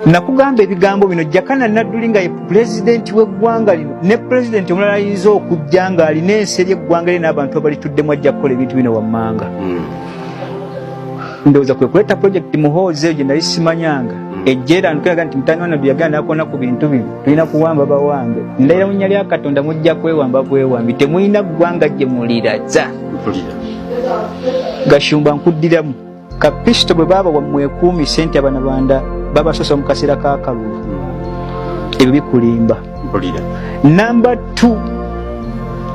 nakugamba ebigambo bino jakana nadduli nga ye pulezidenti w'eggwanga lino ne pulezidenti omulala ayinza okujja nga alina ensi eri eggwanga lye n'abantu abalituddemu ajja kukola ebintu bino wammanga hmm. ndowooza kwe kuleeta pulojekiti muhoozi eyo gye nali simanyanga hmm. ejja era nukiraga nti mutani wanaddu yagana nakona ku bintu bino tulina kuwamba bawange ndayira munya lya katonda mujja kwewamba bwewambi temulina ggwanga gye muliraza gashumba nkuddiramu kapisito bwe baaba wamwekuumi sente abanabanda babasosa mu kaseera kakalulu ebyo bikulimba namba t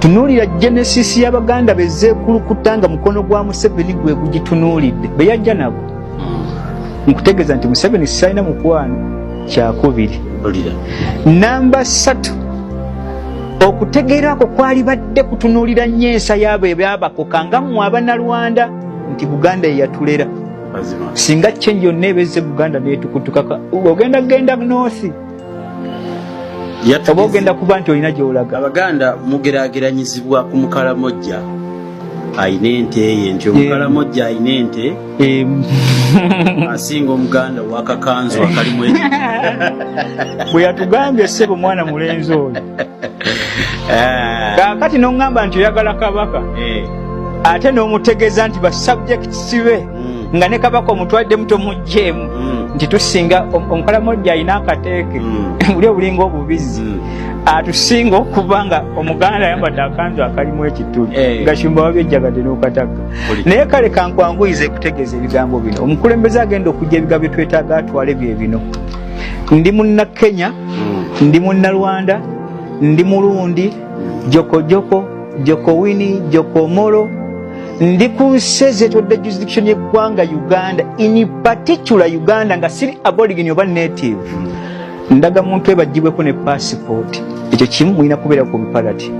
tunuulira genesis y'abaganda bezeekulukuta nga mukono gwa museveni gwe gugitunuulidde be yajja nabo hmm. nkutegeeza nti museveni sitalina mukwano kyakubiri namba satu okutegeera kwo kwalibadde kutunuulira nnyo ensa yaabo ebyabakoka nga mmwe abanalwanda nti buganda yeyatulera singa change yonna ebezze buganda netukutukaka ogenda kugenda nosi oba ogenda kuba nti olina gyolaga abaganda mugerageranyizibwa ku mukalamojja ayina ente ye nti omukalamojja ayina ente asinga omuganda wakakanzu akalimu bwe yatugambye ssebo mwana mulenzi oyo Eh. kakati noŋŋamba nti oyagala kabaka eh. ate n'omutegeeza nti basubjects be hmm. nga ne kabaka omutwaddemu tomugjeemu hmm. nti tusinga omukalamojja alina akateeke hmm. buli obulinga obubizzi atusinga okuba nga omuganda ayambadde akanzu akalimu ekituli eh. nga shumba wabyejjagadde n'okataka naye kale kankwanguyiza ekutegeeza ebigambo bino omukulembeze agenda okujja ebigambo byetwetaaga atwale bye bino ndi munna kenya hmm. ndi munna rwanda ndi mulundi jokojoko jokowini jokomolo ndi ku nsi ezetodde jurisdiction yeggwanga uganda in particular uganda nga siri aborigin oba native hmm. ndaga muntu ebajibweko ne passport ekyo kimu mulina kubeera ku biparati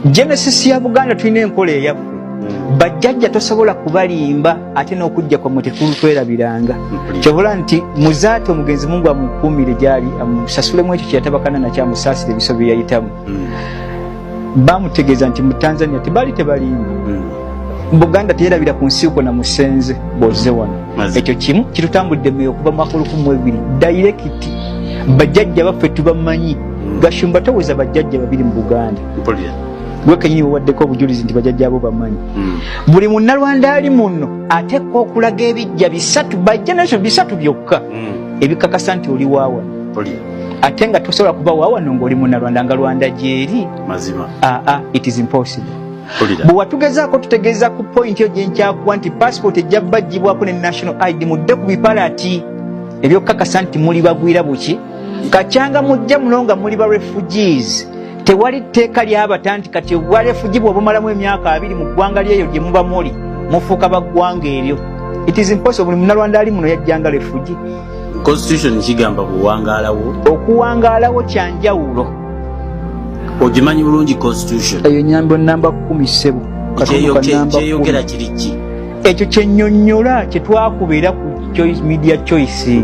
genesis ya buganda tulina enkola eyaffe hmm. bajjajja tosobola kubalimba ate n'okujja kwamwe tekulutwerabiranga kyobula nti muzaate omugenzi mungu amukuumire gyali amusasulemu ekyo kyeyatabakana nakyo amusaasire ebiso bye yayitamu hmm. bamutegeeza nti mu tanzania tebaali tebalimba hmm. buganda teyerabira ku nsi uko na musenze boze wano ekyo kimu kitutambudde meyo okuva mwaka olukumu ebiri dayirekiti bajajja baffe tubamanyi hmm. gashumba toweza bajajja babiri mu buganda gwe kenyini wewaddeko obujulizi nti bajajjaabo bamanyi hmm. buli munnalwanda ali muno atekwa okulaga ebijja bisatu by generation bisatu byokka hmm. ebikakasa nti oli waawa ate nga tosobola kuba waawano ngaoli munnalwanda nga lwanda gyeri aa it is impossible bwe watugezaako tutegeeza ku pointi yo gyenkyakuwa nti passport ejja bajjibwako ne national id mudde ku bipalati ebyokukakasa nti muli bagwira buki kakyanga mujja muno nga muli ba refugees tewali tteeka lyabata nti kati obwalefugi bwobumalamu emyaka abiri mu ggwanga lyeyo gye muba muli mufuuka baggwanga eryo it is impossible buli munalwanda ali muno yajjanga lefugi constitution kigamba buwangaalawo okuwangaalawo kyanjawulo ogimanyi bulungi constitution eyo nyambo namba kumi ssebo kyeyogera kiriki ekyo kyenyonyola kyetwakubeera ku choice media choice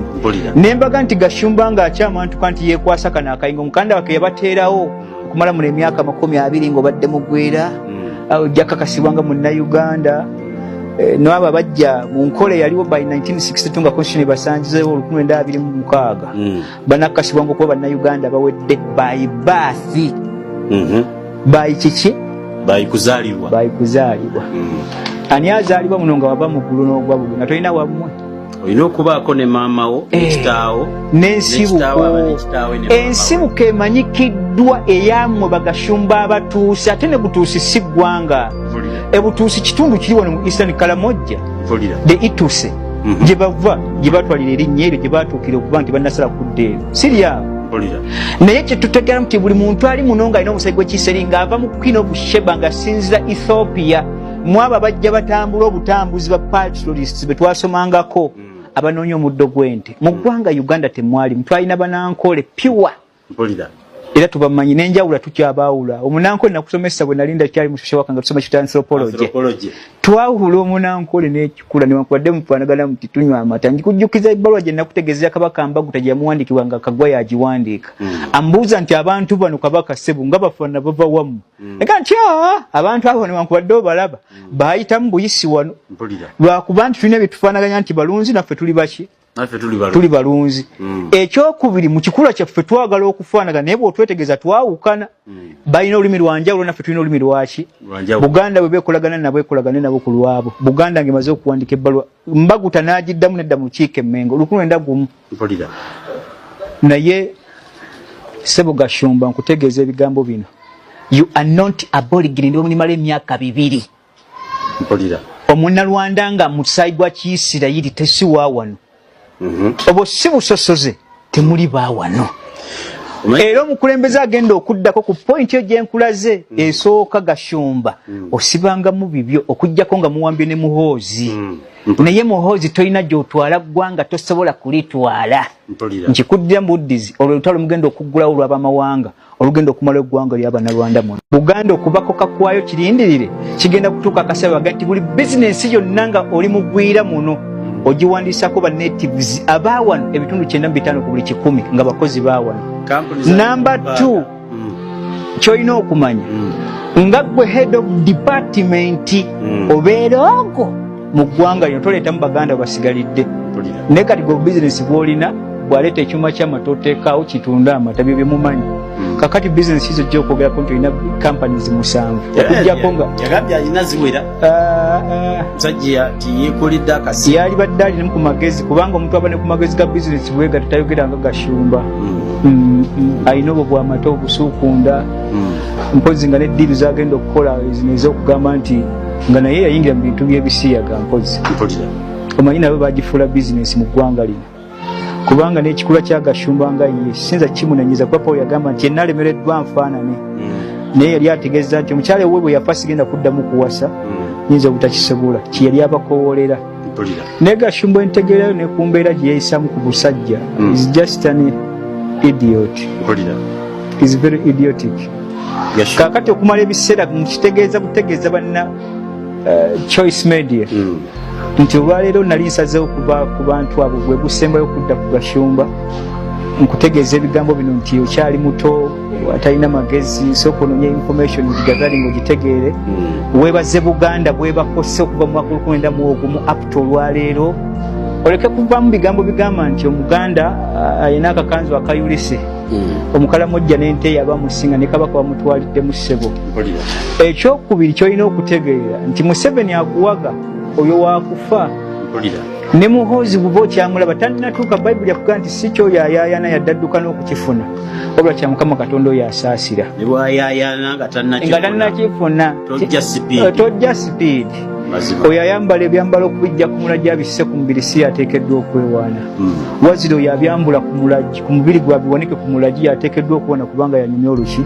nembaga nti gashumba nga akyamantuka nti yekwasa kano akayingo mukanda wake yabateerawo okumala muno emyaka makumi abiri nga obadde mugwera hmm. ojja kakasibwa nga munnauganda eh, noabo abajja mu nkola eyaliwo by 1962 nga constitution ebasangizewo olukumi lwenda abiri mu mukaaga hmm. banakashibwa ngu kuba bannayuganda bawedde by birth mhm. by kiki by kuzalibwa by kuzalibwa mm. ani azalibwa muno nga wava muggulu n'ogwa bulu nga tolina wamwe olina okubaako ne maama wo eh, ekitaawo n'ensibuko ensibuko emanyikiddwa eyamwe bagashumba abatuusi ate ne butuusi si ggwanga ebutuusi kitundu kiri wano mu eastern kalamojja de ituse mhm. gye bava gye batwalira erinnya eryo gye batuukira okuba nti banasala kudda eyo siriawo naye kyetutegeramu nti buli muntu ali muno nga alina omusai gwekiseri nga ava mu queen of sheba nga sinzira ethiopia mwabo abajja batambula obutambuzi ba patrolists betwasomangako mm. abanoonya omuddo gwente mu mm. ggwanga uganda temwalimu twalina banankole pure mpulira era tubamanyi nenjawula tukyabaawula omunankole nakusomesa bwe nali ndakyali mushusha wakanga tusoma kita anthropology twawula omunankole nekikula newankubadde mufanagana muti tunywa amata njikujjukiza ebbaluwa gye nakutegeezera kabaka mbagu tejamuwandikibwa nga kagwa yagiwandiika mm. ambuuza nti abantu bano kabaka sebu nga bafana bava wamu mm. ega nti ah, abantu abo newankubadde obalaba mm. baayitamu buyisi wano lwakuba nti tulina byetufanaganya nti balunzi naffe tuli baki tuli balunzi mm. ekyokubiri mu kikula kyaffe twagala okufaanaga naye bwotwetegeeza twawukana mm. balina olulimi lwanjawulo naffe tulina olulimi lwaki buganda bwe bekolagana nabo ekolagane nabo ku lwabo buganda nge maze okuwandika ebbaluwa mbaguta n'agiddamu nedda mu lukiiko emmengo olukulu enda gumu naye sebo gashumba nkutegeeza ebigambo bino you are not aborigine ndi omuli mala emyaka bibiri mpulira omunalwanda nga musayi gwa kiisirayiri tesiwa wano mhm. obwo si busosoze temuli ba wano era omukulembeze agenda okuddako ku pointi yo gyenkulaze mm. esooka gashumba mm. osibangamu bibyo okugjako nga muwambye ne muhoozi mm. naye muhoozi tolina gyotwala ggwanga tosobola kulitwala nkikuddira mu buddizi olwo lutalo mugenda okuggulawo olwabamawanga olugenda okumala eggwanga lya bannarwanda muno buganda okubako kakwayo kirindirire kigenda kutuuka akasaba ga nti buli bizinensi yonna nga oli mugwira muno ogiwandiisako ba natives abaawano ebitundu kyenda mu bitaano ku buli kikumi nga bakozi baawano namba t mm. kyolina okumanya mm. nga gwe head of department mm. obeera ogo mu ggwanga lino toleetamu baganda basigalidde naye kati gwe business bwolina bwaleeta ekyuma kyamata oteekaawo kitunde amata byo byemumanyi hmm. kakati business izo ojja okwogerako nti olina companies musanvu okujjako nga yalibadde alinamu ku magezi kubanga omuntu aba ne ku magezi ga business bwega tetayogera nga gashumba hmm. Hmm, alina obwo bwamata obusuukunda mpozi nga ne diiru zagenda okukola ezokugamba nti nga naye yayingira mu bintu byebisiyaga mpozi omanyi nabo bagifuula bizinesi mu ggwanga lino kubanga n'ekikula kya gashumba nga ye sinza kimunanyiza kuba paul yagamba nti yenna alemereddwa nfaanane hmm. naye yali ategeeza nti omukyala ewe bwe yafa sigenda kuddamu kuwasa hmm. yinza obutakisobola kyeyali abakowoolera naye gashumba entegerayo ne ku mbeera gye yeyisamu ku busajja hmm. is just an idiot is very idiotic kakati okumala ebiseera mukitegeeza butegeeza banna uh, choice media hmm. nti olwaleero nali nsazeewo kuba ku bantu abo gwe gusembayo okudda ku gashumba nkutegeeza ebigambo bino nti okyali muto atalina magezi sooka ononya information gigagali ngaogitegeere hmm. webaze buganda bwebakosse okuva mu makulu kwenda mu ogumu apta olwaleero oleke kuvamu bigambo bigamba nti omuganda uh, ayina akakanzu akayulise hmm. omukalamojja nente yaba musinga ne kabaka bamutwalidde mu ssebo ekyokubiri kyolina okutegeera nti museveni akuwaga oyo wakufa ne muhoozi buba okyamulaba tandinatuuka bayibuli akugaa nti si kyoyo ayayana yaddadduka n'okukifuna wabula kya mukama katonda oyo asaasira nga tannakifuna tojja sipiidi eh, oyo ayambala ebyambalo okubijja ku mulagi abisse ku mubiri si yateekeddwa okwewaana hmm. wazira oyo abyambula ku mulagi ku mubiri gwe abiwanike ku mulagi yateekeddwa okuwana kubanga yanyumya oluki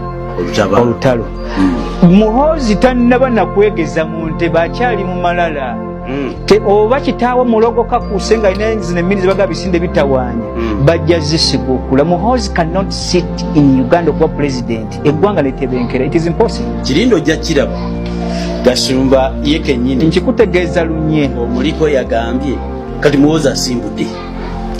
olutalo hmm. muhoozi tannaba nakwegeza mu nte bakyali mu malala mm. te oba kitaawo mulogo kakuuse nga alina zino emmini zebaga bisinde bitawaanya mm. bajja zisiga okula muhozi cannot sit in uganda okuba pulezidenti eggwanga netebenkera it is impossible kirindi ojja kiraba gasumba ye kenyini nkikutegeeza lunye omuliko yagambye kati muhozi asimbudde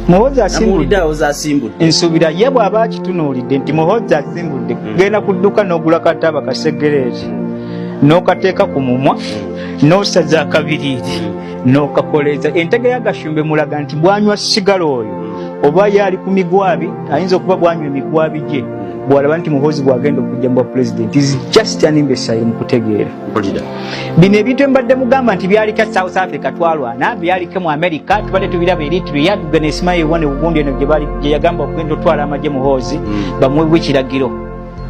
muhozi asimbudde awozi asimbudde nsuubira ye bw'aba akitunuulidde nti muhozi asimbudde mm. genda kudduka n'ogula kataaba kasegereeti n'okateeka ku mumwa mm. n'osaza akabiriiti n'okakoleeza entege ya gashumbe mulaga nti bwanywa sigala oyo oba ye ali ku migwabi ayinza okuba bwanywa emigwabi gye bwalaba nti muhoozi bwagenda okujja mu bwa pulezidenti is just an imbesile mu kutegeera bino ebintu embadde mugamba nti byalike south africa twalwana byalike mu america tubadde tubiraba eritrea tugenda esimayo ewone ugundi eno gye yagamba okugenda otwala amagye muhoozi hmm. bamuwe ekiragiro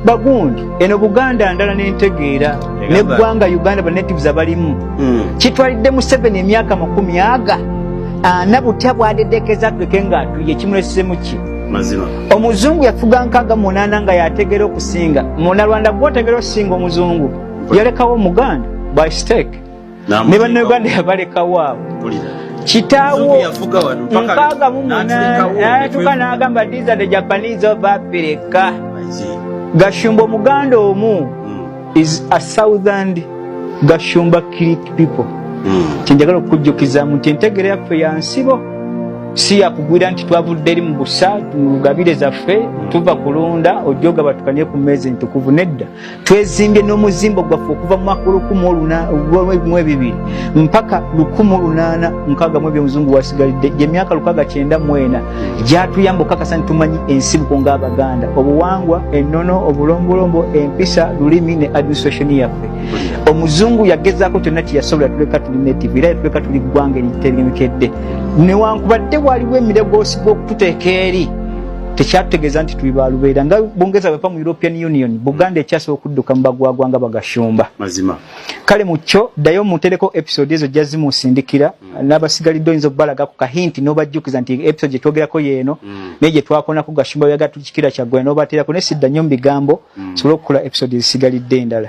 bagundi eno buganda ndala nentegeera neggwanga uganda banatives abalimu hmm. kitwalidde museveni emyaka makumi aga ana butya bwadedekeza atuleke nga atuye kimulesemu ki omuzungu yafuga nkaga munana nga yategera okusinga munarwanda gwotegera okusinga omuzungu yalekawo omuganda by stake ne bannayuganda yabalekawo awo kitaawo nkaaga mu munanatuka n'agamba these are the japanese of africa gashumba omuganda omu hmm. is a southern gashumba creek people hmm. kyenjagala okukujjukizaamu nti entegera yaffe ya nsibo si yakugwira nti twavudde eri mu busa tugabire zaffe hmm. tuva kulunda ojja ogabatukanye ku meezi entukuvu nedda twezimbye n'omuzimbo gwaffe okuva mu mwaka olukumi olunamwe bibiri mpaka lukumi olunaana nkaaga mu ebyo omuzungu wasigalidde gyemyaka lukaaga kyenda mwena gyatuyamba okukakasa nti tumanyi ensibuko ng'abaganda obuwangwa ennono obulombolombo empisa lulimi ne administration yaffe omuzungu yagezaako kyonna kyeyasobola tuleka tuli native era yatuleka tuli ggwanga eritegemekedde newankubadde waliwo emirego osigwa okututeeka eri tekyategeeza nti tuli balubeera nga bongeza bwepa mu european union buganda ekyasa okudduka mu bagwagwa nga bagashumba mazima kale mu kyo ddayo mutereko episode ezo jja zimusindikira mm. n'abasigalidde oyinza okubalaga ku kahinti n'obajjukiza nti episode gye twogerako yeeno mm. naye gye twakonako gashumba byaga tukikira kyaggwera n'obateerako naye sidda nnyo mu bigambo mm. sobola okukola episode ezisigalidde endala